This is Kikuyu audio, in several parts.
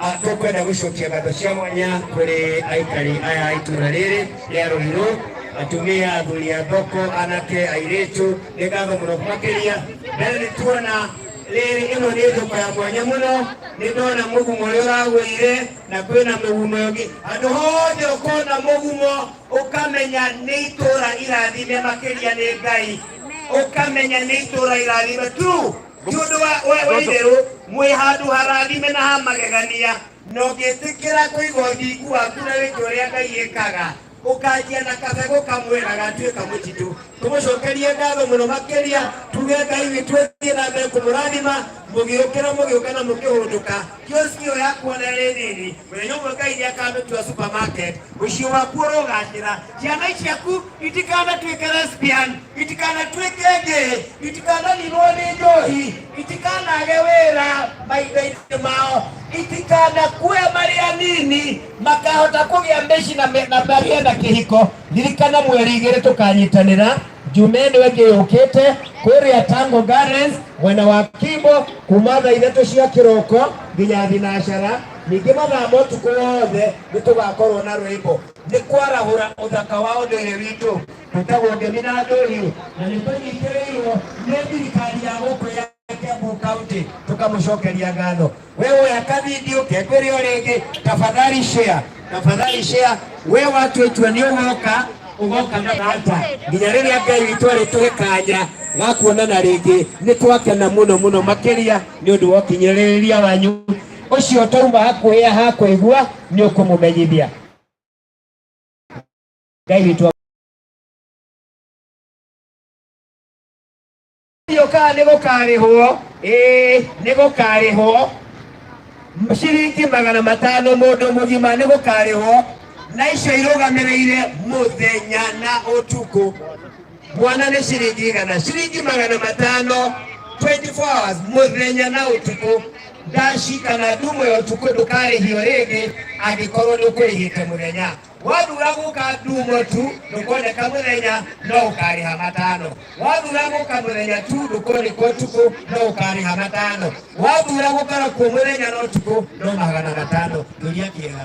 Ah, tũkwenda gũcokia ngatho cia mwanya kũrĩ aikari aya a itũra rĩrĩ rĩa rũirũ atumia athuri a thoko anake airĩtu nĩ ngatho mũno makĩria mbere nĩ tuona rĩrĩ ĩno nĩ thoko ya mwanya mũno nĩ ndona mũgumo ũrĩa ũragũire na kwĩna mũgumo ũngĩ andũ hothe ũkona mũgumo ũkamenya nĩ itũra irathime makĩria nĩ ngai ũkamenya nĩ itũra irathime tu nĩ ũndũ wa wa- wa itherũ mwĩ handũ harathime na ha magegania na ũngĩtĩkĩra kũiga ũthingu waku na wĩke ũrĩa ngai ĩkaga ũkanjia na kabegũ kamwe na gatuĩka mũtitũ tũmũcokerie ngatho mũno makĩria tuge ngai witũ thiĩ na mbere kũmũrathima mũgĩũkĩra mũgĩũka na mũkĩhũndũka kioski ĩyo yakuona ĩrĩ nini mũthenya ũmwe ngai nĩ akamĩtua supermarket mũciĩ waku ũrogacĩra ciana ciaku itikana twikere spian itikana twikenge itikana nilone njohi itikana agewera maithainĩ mao itikana kue marĩa nini makahota kũgĩa mbeshi na me- na magĩa na kĩhiko ndirikana mweri igĩrĩ tũkanyitanĩra jumeni wengĩ yũkĩte kũrĩa tango gardens mwena wa kimbo kuma thaa ithatũ cia kĩroko nginya thinacara ningĩ mathaa motukũ wothe nĩ tũgakorwo na rwĩmbo Nĩ kwarahũra ũthaka wa ũndũire witũ, twĩtagwo Ngemi na Ndũhiũ, na nĩ tũnyitĩrĩirwo nĩ thirikari ya gũkũ ya Kiambu County, tũkamũcokeria ngatho. We woya kavidio kekũrĩ o rĩngĩ, tafadhali share, tafadhali share. We watuĩtua nĩ ũgoka ũgoka na data nginya rĩrĩa Ngai witũ arĩtũhe kanya ga kuonana rĩngĩ. Nĩ twakena mũno mũno makĩria nĩ ũndũ wa ũkinyĩrĩria wanyu ũcio twauma hakuhĩ ha kũigua nĩ ũkũmũmenyithia. Ngai witũ yokaa nĩ gũkarĩhwo ĩĩ nĩ gũkarĩhwo ciringi magana matano mũndũ mũgima nĩ gũkarĩhwo na icio irũgamĩrĩire mũthenya na ũtukũ Mwana nĩ ciringi igana ciringi magana matano 24 hours mũthenya na ũtukũ ndaci kana ndumo ya ũtukũ ndũkarĩhio rĩngĩ angĩkorwo nĩ ũkũrĩhĩte mũthenya wathura gũka ndumo tu ndũkoneka mũthenya no ũkarĩha matano wathura gũka mũthenya tu ndũkoneka ũtukũ no ũkarĩha matano wathura gũkora kuo mũthenya na ũtukũ no magana matano ndoria kĩega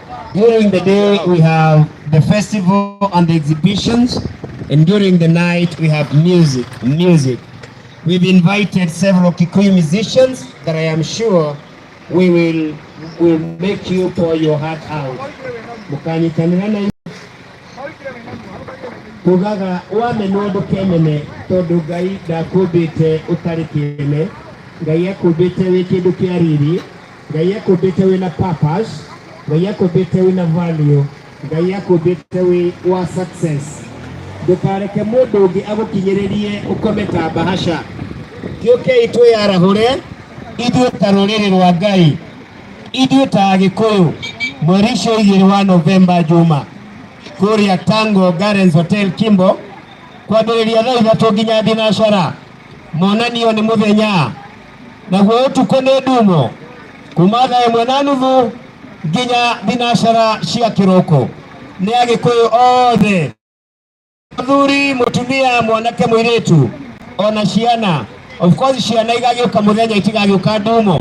During the day, we have the festival and the exhibitions, and during the night, we have music. Music. We've invited several Kikuyu musicians that I am sure we will will make you pour your heart out. Mukanyitanira na kugaga wamenya ũndũ kemene tondũ Ngai ndakũmbĩte ũtarĩ kĩene Ngai akũmbĩte wĩ kĩndũ kĩa riri ngai akumbite wina purpose ngai akumbite wina value ngai akumbite wi wa success ndukareke mundu ungi agukinyiririe ukome ta bahasha ngiukei twiyarahũre ithuĩ ta rũrĩrĩ rwa ngai ithuĩ ta agĩkũyũ mweri ũcio igĩrĩ wa novemba juma kũrĩa tango gardens hotel kimbo kwambĩrĩria thaa ithatũ nginya thinacara monanio nĩ mũthenya naguo ũtukũ nĩ ndumo kuma thaa ĩmwe na nuthu nginya thinacara cia kĩroko nĩ agĩkũyũ othe mũthuri mũtumia mwanake mũirĩtu ona ciana of course ciana igagĩũka mũthenya itigagĩũka ndumo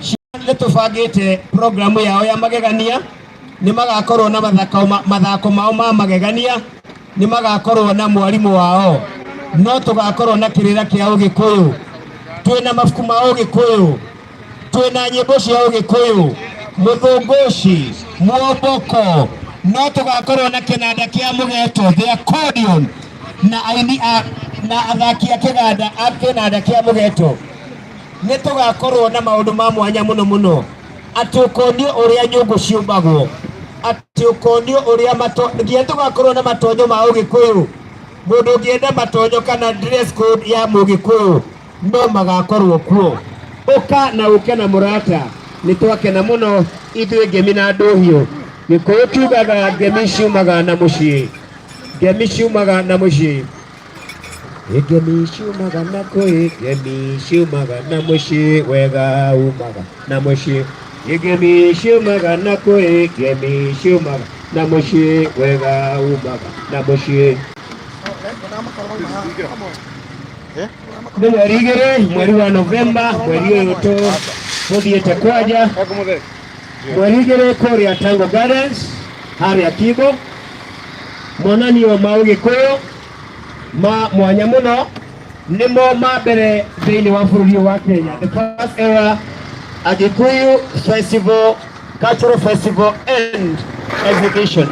ciana nĩ tũbangĩte programu yao ya magegania nĩ magakorwo na mathako, ma- mathako mao ma magegania nĩ magakorwo na mwarimũ wao no tũgakorwo na kĩrĩra kĩa ũgĩkũyũ twĩ na mabuku ma ũgĩkũyũ twĩ na nyĩmbo cia ũgĩkũyũ mũthũngũci mwomboko no tũgakorwo na kĩnanda kĩa mũgeto the accordion na aini a- na athaki a kĩganda a kĩnanda kĩa mũgeto nĩ tũgakorwo na maũndũ ma mwanya mũno mũno atĩ ũkonio ũrĩa nyũngũ ciũmbagwo At- Ati ukonio uria mato nginya tugakorwo na matonyo ma ugikuyu mundu ungienda matonyo kana dress code ya mugikuyu no magakorwo kuo uka na uke na murata ni twakena muno ithuĩ ngemi na ndũhiũ gĩkũyũ kiugaga ngemi ciumaga na mũciĩ ngemi ciumaga na mũciĩ Ngemi ciumaga na kũĩ, ngemi ciumaga na mũciĩ, wega umaga na mũciĩ. Ngemi ciumaga na kũĩ, ngemi ciumaga na mũciĩ, wega umaga na mũciĩ. Nĩ mweri igĩrĩ, mweri wa Novemba, mweri ũyũ tũ tũthiĩte kwanja Mwerigĩrĩ kũrĩa Tango Gardens harĩa Kibo, monanio ma ũgĩkũyũ ma mwanya mũno nĩmo ma mbere thĩinĩ wa bũrũri ũyũ wa Kenya, the first ever Agikuyu Festival, Cultural Festival and Exhibition.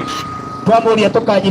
Twamũria tũkanyi